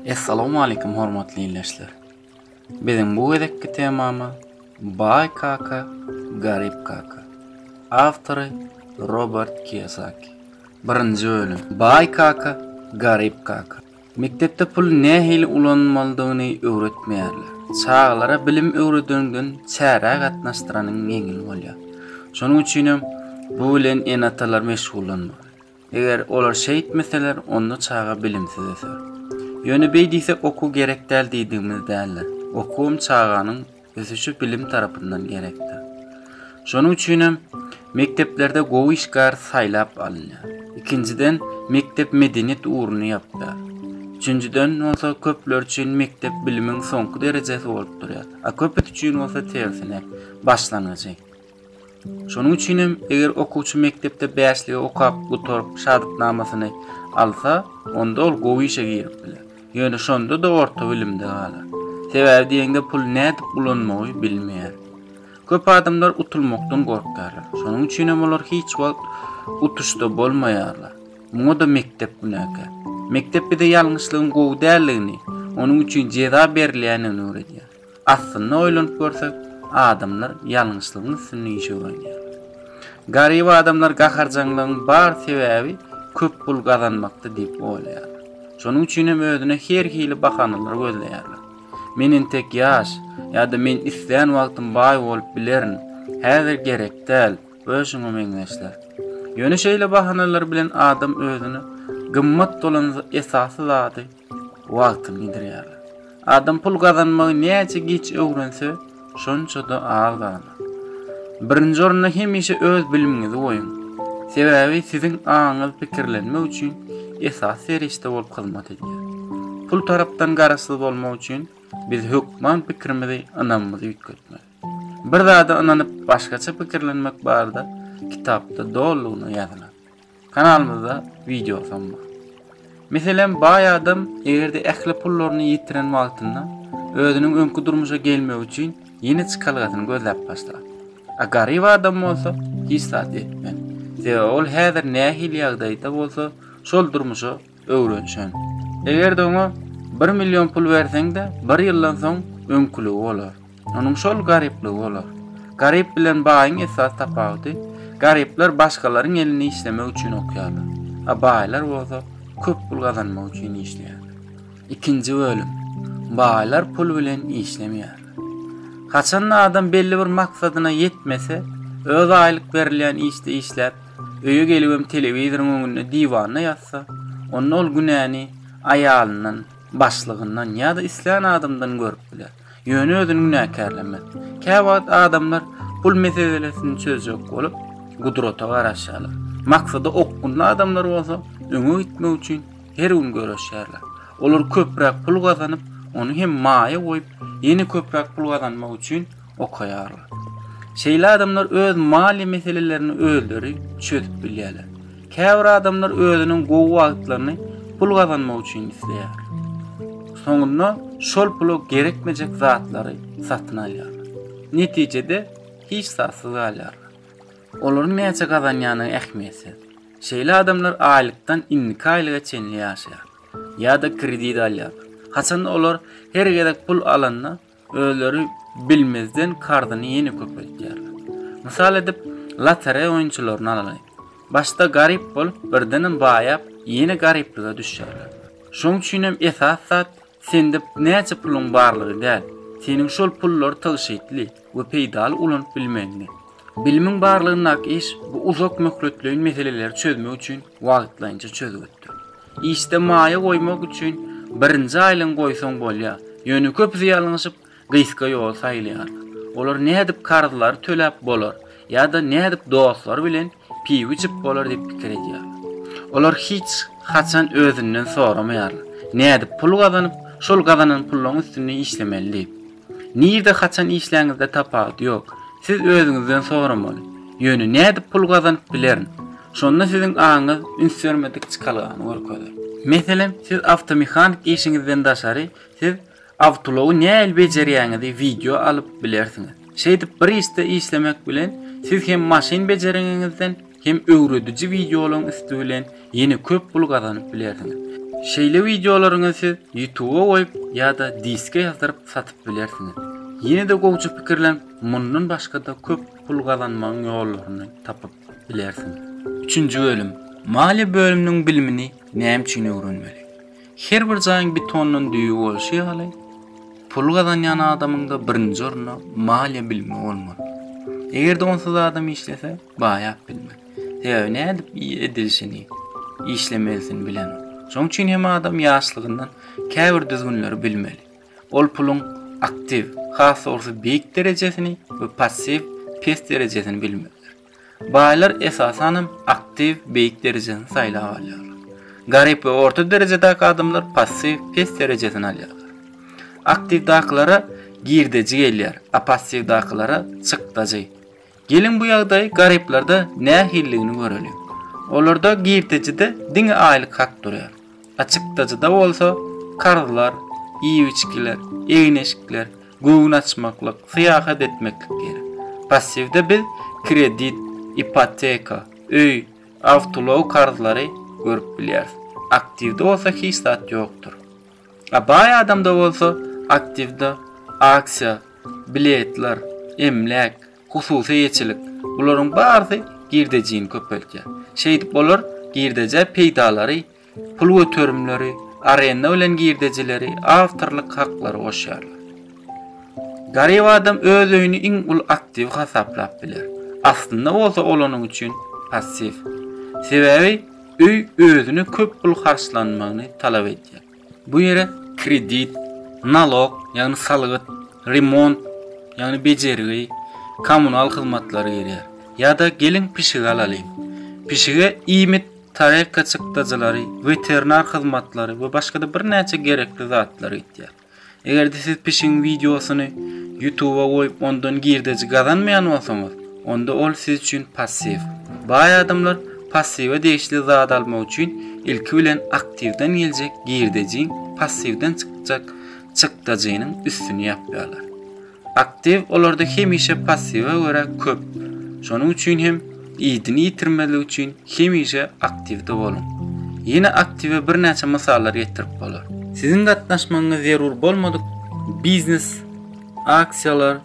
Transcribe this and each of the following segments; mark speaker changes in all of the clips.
Speaker 1: Essalamu aleykum hormatly illeşler. Biziň bu gezekki temamy Bay kaka, garip kaka. Awtory Robert Kiyosaki. Birinji bölüm. Bay kaka, garip kaka. Mekdepde puly nähili ulanmalydygyny öwretmeýärler. Çagalara bilim öwredeniňden çärä gatnaşdyranyň ýeňil bolýar. Şonuň üçinem bu bilen ene-atalar meşgullanmaly. Eger olar şeýtmeseler, onda çaga bilimsiz öser. Ýöne beý diýsek okuw gerek däl diýdigimiz däldir. Okuwam çaganyň ösüşi bilim tarapyndan gerekdir. Şonuň üçin hem mekdeplerde gowy işgär saýlap alynýar. Ikinjiden, mekdep medeniýet ugruny ýapýar. Üçünjiden bolsa, köpler üçin mekdep bilimiň soňky derejesi bolup durýar, a köpüsi üçin bolsa tersine, başlangyjy. Şonuň üçin hem, eger okuwçy mekdepde bäşligi okap gutaryp, şatyknamasyny alsa, onda ol gowy işe girip biler. Ýöne şonda-da orta bilimde galar. Sebäbi diýeňde puly nädip ulanmagy bilmeýär. Köp adamlar utulmakdan gorkýarlar. Şonuň üçin hem olar hiç wagt utuşda bolmaýarlar. Muňa-da mekdep günäkär. Mekdep bize ýalňyşlygyň gowy däldigini, onuň üçin jeza berilýändigini öwredýär. Aslynda oýlanyp görsek, adamlar ýalňyşlygyň üstünde işe uranýarlar. Garyp adamlar gaharjaňlygyň bar sebäbi köp pul gazanmakda diýip oýlaýarlar. Şonuň üçin hem özüne her hili bahanalary gözleýärler. Men entek ýaş, ýa-da men islän wagtym baý bolup bilerin, häzir gerek däl we şuňa meňzeşler. Ýöne şeýle bahanalar bilen adam özüne gymmat bolan esasy zady Wagtyny gidirýärler. Adam pul gazanmagy näçe giç öwrense, şonça-da az gazanar. Birinji orunda hemişe öz bilimiňizi goýuň. Sebäbi siziň aňyňyz pikirlenmek üçin esasy serişde bolup hyzmat edýär. Pul tarapdan garaşsyz bolmak üçin biz hökman pikirimizi, ynamymyzy üýtgetmeli. Bir zada ynanyp, başgaça pikirlenmek barada kitapda dolulygyna ýazylan. Kanalymyzda wideo sam bar. Meselem baý adam egerde ähli pullaryny ýitiren wagtynda özüniň öňki durmuşa gelmegi üçin ýene çykalgasyny gözläp başlar. A garyp adam bolsa hiç zat etmez. Sebäbi ol häzir nähili ýagdaýda bolsa şol durmuşa öwrenşen. Eger-de oňa bir million pul berseň-de, bir ýyldan soň öňküligi bolar. Onuň şol garyplygy bolar. Garyp bilen baýyň esasy tapawudy, garyplar başgalaryň elinde işlemek üçin okýarlar, a baýlar bolsa köp pul gazanmak üçin işleýärler. Ikinji bölüm. Baýlar pul bilen işlemeýärler. Haçan-da adam belli bir maksadyna ýetmese, öz aýlyk berilýän işde işläp, öýe gelibem telewizoryň öňünde diwanda ýatsa, onda ol günäni aýalyndan, başlygyndan ýa-da islän adamdan görüp biler. Ýöne özüni günäkärlemez. Käwagt adamlar pul meselesini çözjek bolup, gudrata garaşýarlar. Maksady okgunly adamlar bolsa öňe gitmek üçin her gün göreşýärler. Olar köpräk pul gazanyp, ony hem maýa goýup, ýene köpräk pul gazanmak üçin okaýarlar. Şeýle adamlar öz maliýe meselelerini özleri çözüp bilýärler. Käbir adamlar özüniň gowy wagtlaryny pul gazanmak üçin isleýär. Soňunda şol pula gerekmejek zatlary satyn alýarlar. Netijede hiç zatsyz galýarlar. Olaryň näçe gazanýany ähmiýetsiz. Şeýle adamlar aýlykdan indiki aýlyga çenli ýaşaýar. Ýa-da kredit alýarlar. Haçanda olar her gezek pul alanda Özleri bilmezden karzyny ýene köpeltýärler. Mysal edip, lotereýa oýunçylaryny alalyň. Başda garyp bolup, birdenem baýap, ýene garyplyga düşýärler. Şoň üçinem esas zat sende näçe puluň barlygy däl, seniň şol pullary tygşytly we peýdaly ulanyp bilmegiňde. Bilimiň barlygyndaky iş bu uzak möhletleýin meseleleri çözmek üçin wagtlaýynça çözgütdir. Işde maýa goýmak üçin birinji aýlygyňy goýsaň bolýar. Ýöne köpüsi ýalňyşyp, gysga ýoly saýlaýarlar. Olar nädip karzlary töläp bolar ýa-da nädip dostlary bilen piw içip bolar diýip pikir edýärler. Olar hiç haçan özünden soramaýarlar, nädip pul gazanyp, şol gazanan pullaryň üstünde işlemeli diýip. Nirde haçan işläňizde tapawut ýok. Siz özüňizden soramaly. Ýöne nädip pul gazanyp bilerin? Şonda siziň aňyňyz üns bermedik çykalgany görkezer. Meselem, siz awtomehanik işiňizden daşary siz awtoulogy nähili bejerýäňizi wideo alyp bilersiňiz. Şeýdip bir işde işlemek bilen siz hem maşyn bejereňiňizden, hem öwrediji wideolaryň üsti bilen ýene köp pul gazanyp bilersiňiz. Şeýle wideolaryňy siz Ýutuba goýup ýa-da diske ýazdyryp satyp bilersiňiz. Ýene-de gowja pikirlen, mundan başga-da köp pul gazanmagyň ýollaryny tapyp bilersiňiz. Üçünji bölüm, Maliýe bölüminiň bilimini näme üçin öwrenmeli? Her bir jaýyň betondan düýbi bolşy ýaly, pul gazanýan adamyň-da birinji orunda maliýe bilimi bolmaly. Eger-de onsuz adam işlese, Baýap bilmek. Sebäbi nädip edilişini, işlemelisini bilenok. Şoň üçin hem adam ýaşlygyndan käbir düzgünleri bilmeli. Ol puluň aktiw, has dogrusy beýik derejesini we passiw, pes derejesini bilmelidir. Baýlar esasan hem aktiw, beýik derejesini saýlap alýarlar. Garyp we orta derejedäki adamlar passiw, pes derejesini alýarlar. Aktiwdakylara girdeji gelýär, a passiwdakylara çykdajy. Geliň bu ýagdaýy garyplarda nähilidigini göreliň. Olarda girdejide diňe aýlyk hak durýar. Açykdajyda bolsa karzlar, iýip-içgiler, egin-eşikler, göwün açmaklyk, syýahat etmeklik geýer. Passiwde biz kredit, ipoteka, öý, awtoulag karzlary görüp bilýäris. Aktiwde bolsa hiç zat ýokdur. A baý adamda bolsa aktiwda aksiýa, biletler, emläk, hususy eýeçilik, bularyň barysy girdejini köpeltýär. Şeýdip olar girdejä peýdalary, pul göterimleri, arenda bilen girdejileri, awtorlyk haklary goşýarlar. Garyp adam öz öýüni iň uly aktiwi hasaplap biler. Aslynda bolsa ol onuň üçin passiw. Sebäbi Öý özüne köp pul harçlanmagyny talap edýär. Bu ýere kredit, nalok, ýagny salgyt, remont, ýagny bejergi, kommunal hyzmatlary girýär. Ýa-da geliň pişik alalyň. Pişige iýmit, tarelka çykdajylary, weterinar hyzmatlary we başga-da birnäçe gerekli zatlar gitýär. Eger-de siz pişigiň wideosyny YouTube-a goýup ondan girdeji gazanmaýan bolsaňyz, onda ol siz üçin passiw. Baý adamlar passiwe degişli zat almak üçin ilki bilen aktiwden geljek girdejiň passiwden çykjak çykdajynyň üstüni ýapýarlar. Aktiw olarda hemişe passiwa görä köp. Şonuň üçin hem idini ýitirmezlik üçin hemişe aktiwde boluň. Ýene aktiwe birnäçe mysallar getirip bolar. Siziň gatnaşmagyňyz zerur bolmadyk biznes, aksiýalar,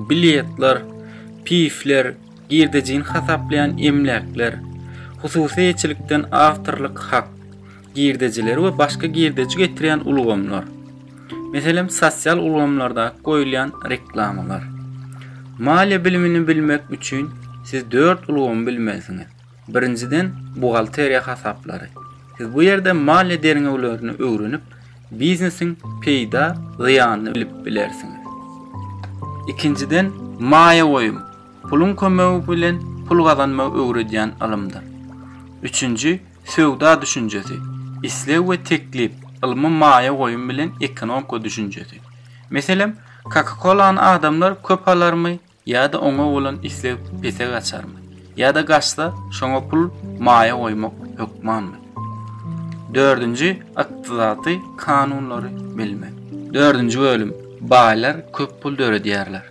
Speaker 1: biletler, pifler, girdejini hasaplaýan emläkler, hususy eýeçilikden awtorlyk hak, girdejileri we başga girdeji getirýän ulgamlar, meselem, sosial ulgamlarda goýulýan reklamalar. Maliýe bilimini bilmek üçin siz dört ulgamy bilmelisiňiz. Birinjiden, buhgalteriýa hasaplary. Siz bu ýerde maliýe derňewlerini öwrenip, biznesiň peýda, zyýanyny bilip bilersiňiz. Ikinjiden, maýa goýum, puluň kömegi bilen pul gazanmagy öwredýän ylymdyr. Üçünji, Söwda düşünjesi, isleg we teklip, ylmy maýa goýum bilen ekonomka düşünjesi. Meselem, Coca-Cola-ny adamlar köp alarmy ýa-da oňa bolan isleg pese gaçarmy, ýa-da gaçsa, şoňa pul maýa goýmak hökmanmy? Dördünji, ykdysaty kanunlary bilmek. Dördünji bölüm, Baýlar köp pul döredýärler.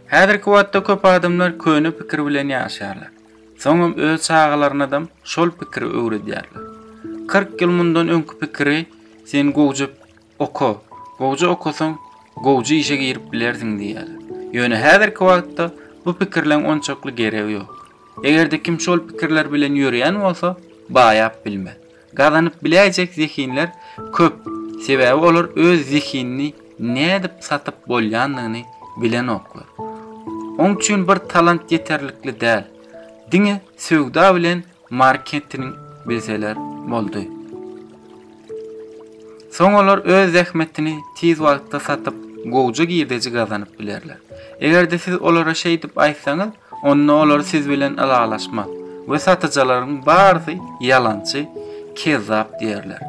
Speaker 1: Häzirki wagtda köp adamlar köne pikir bilen ýaşaýarlar. Soňam öz çagalarynadam şol pikiri öwredýärler. Kyrk ýyl mundan öňki pikiri sen gowja oka, gowja okasaň, gowja işe girip bilersiň diýýärler. Ýöne häzirki wagtda bu pikirleň onçakly geregi ýok. Eger-de kim şol pikirler bilen ýörýän bolsa, baýap bilmez. Gazanyp biläýjek zehinler köp, sebäbi olar öz zehinini nädip satyp bolýandygyny bilenoklar. Oň üçin bir talant ýeterlikli däl, diňe söwda bilen marketing bilseler boldy. Soň olar öz zähmetini tiz wagtda satyp, gowja girdeji gazanyp bilerler. Eger-de siz olara şeýdip aýtsaňyz, Onda olar siz bilen ylalaşmaz we satyjylaryň barysy ýalançy, kezzap diýerler.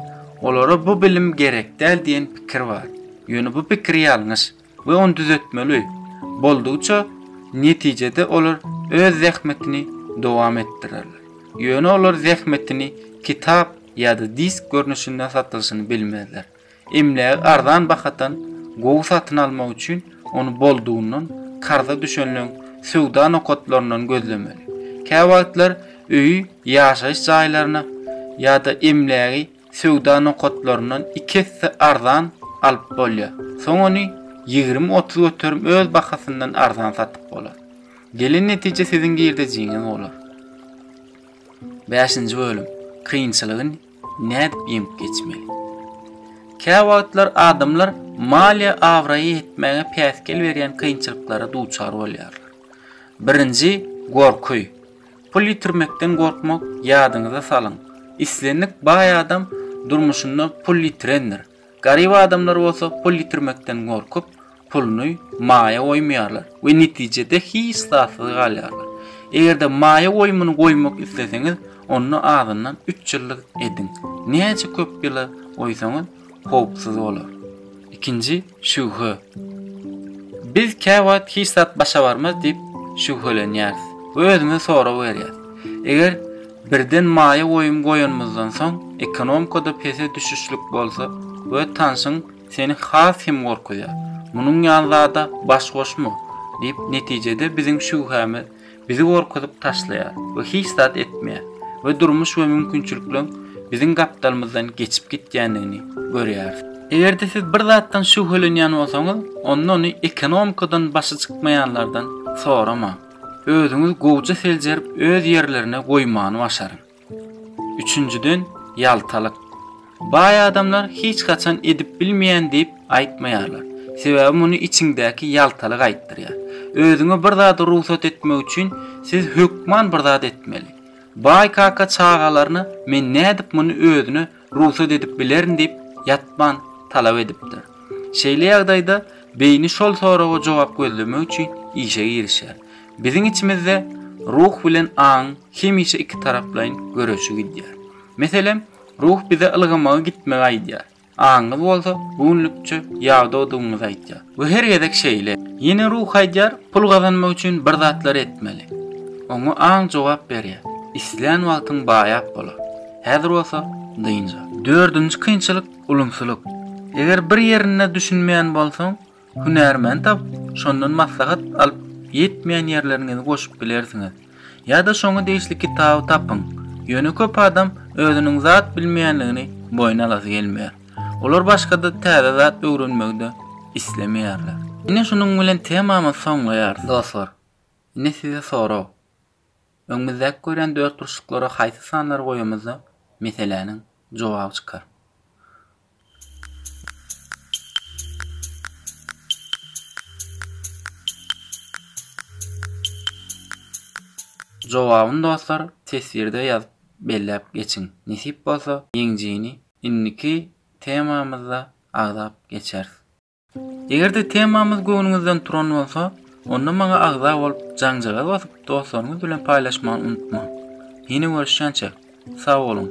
Speaker 1: Olara bu bilim gerek däl diýen pikir bar. Ýöne bu pikir ýalňyş we ony düzetmeli. Boldugyça, netijede olar öz zähmetini dowam etdirerler. Ýöne olar zähmetini kitap ýa-da disk görnüşinde satylyşyny bilmezler. Emlägi arzan bahadan gowy satyn almak üçin ony boldugyndan karza düşenleň söwda nokatlaryndan gözlemeli. Käwagtlar öýi ýaşaýyş jaýlaryna ýa-da emlägi söwda nokatlaryndan iki esse arzan alyp bolýar. Soň ony ýigrimi-otuz göterim öz bahasyndan arzan satyp bolar. Gelen netije siziň girdejiňiz bolar. Bäşinji bölüm, kynçylygy Nädip ýeňip geçmeli? Käwagtlar adamlar maliýe abraýy ýetmäge päsgel berýän kynçylyklara duçar bolýarlar. Birinji, gorky. Pul ýitirmekden gorkmak Ýadyňyza salyň, islendik baý adam durmuşynda pul ýitirendir. Garyp adamlar bolsa pul ýitirmekden gorkup, puluny maýa goýmaýarlar we netijede hiç zatsyz galýarlar. Eger-de maýa goýumyny goýmak isleseňiz, onda azyndan üç ýyllyk ediň. Näçe köp ýyla goýsaňyz, howpsuz bolar. Ikinji şübhe. Biz käwagt hiç zat başa barmaz diýip şübhelenýäris we özümize sorag berýäris. Eger Birden maýa goýum goýanymyzdan soň ekonomkada pese düşüşlik bolsa we tanşyň seni has hem gorkuzýar. Munuň ýaly zada baş goşma! diýip netijede biziň şübhämiz bizi gorkuzyp taşlaýar we hiç zat etmeýär we durmuş we mümkinçilikleriň biziň gapdalymyzdan geçip gitýändigini görýäris. Eger-de siz bir zatdan şübhelenýän bolsaňyz onda ony ekonomkadan başy çykmaýanlardan soramaň. Özüňizi gowja seljerip öz ýerlerine goýmany başaryň. Üçünjiden ýaltalyk. Baý adamlar hiç haçan edip bilmeýän diýip aýtmaýarlar. Sebäbi muny içiňdäki ýaltalyk aýtdyrýar. Özüňe bir zady rugsat etmek üçin siz hökman bir zat etmeli. Baý kaka çagalaryna men nädip muny özüne rugsat edip bilerin diýip, ýatman talap edipdir. Şeýle ýagdaýda beýni şol soraga jogap gözlemek üçin işe girişýär. Biziň içimizde ruh bilen aňyň hemişe ikitaraplaýyn göreşi gidýär. Meselem, ruh bize ylgamagy gitmegi aýdýar, aňyňyz bolsa bu günlükçe ýadawdygyňyzy aýdýar we her gezek şeýle. Ýene ruh aýdýar, pul gazanmak üçin bir zatlar etmeli. Oňa aň jogap berýär, islän wagtyň baýap bolar. Häzir bolsa dynja. Dördünji kynçylyk ulumsylyk. Eger bir ýerinde düşünmeýän bolsaň, hünärmen tapyp, şondan maslahat alyp ýetmeýän ýerleriňizi goşup bilersiňiz. Ýa-da şoňa degişli kitaby tapyň. Ýöne köp adam özüniň zat bilmeýänligini boýun alasy gelmeýär. Olar başga-da täze zat öwrenmegi-de islemeýärler. Ine şunuň bilen temamyzy soňlaýarys. Dostlar, indi size sorag. Öňümizdäki görýän dörtburçluklara haýsy sanlary goýamyzda meseläniň jogaby çykar. Jogabyny dostlar teswirde ýazyp belläp geçiň. Nesip bolsa ýeňjini indiki temamyzda agzap geçeris. Eger-de temamyz göwnüňizden turan bolsa, onda maňa agza bolup, jaňjagaz basyp, dostlaryňyz bilen paýlaşmagy unutmaň. Ýene görüşýänçä, sag boluň!